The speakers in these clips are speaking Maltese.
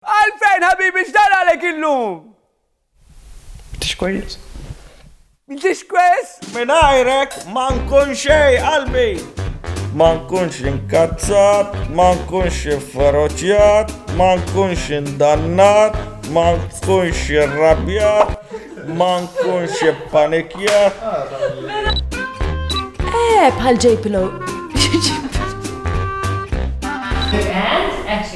Għalfejn ħabibi x'dar għalek illum? M'intix kwejes. M'intix kwejes? Mingħajrek ma nkun xejn qalbi. Ma nkunx inkazzat, ma nkunx inferoċjat, ma nkunx indannat, ma nkunx irrabjat, ma nkunx ippanikjat. Eh, bħal ġejpilo.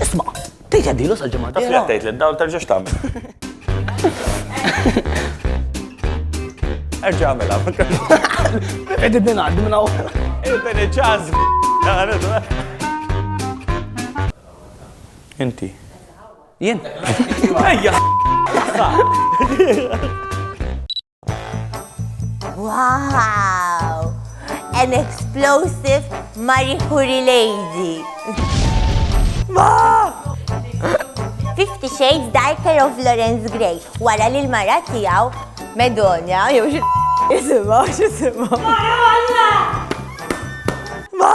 Isma', tgħid għaddilu sal-ġimgħa Taf li għattejt li dawn terġax tagħmel. Erġa' għamela. Qegħdin ningħaddi minn hawn. Ibn iċaz. Inti. Jien. Ejja. Wow! An explosive Marie Curie lady. Ma! Fifty Shades Darker of Lawrence Gray wara li l-mara tiegħu Medonja jew xi jisimha xi jisimha. Ma!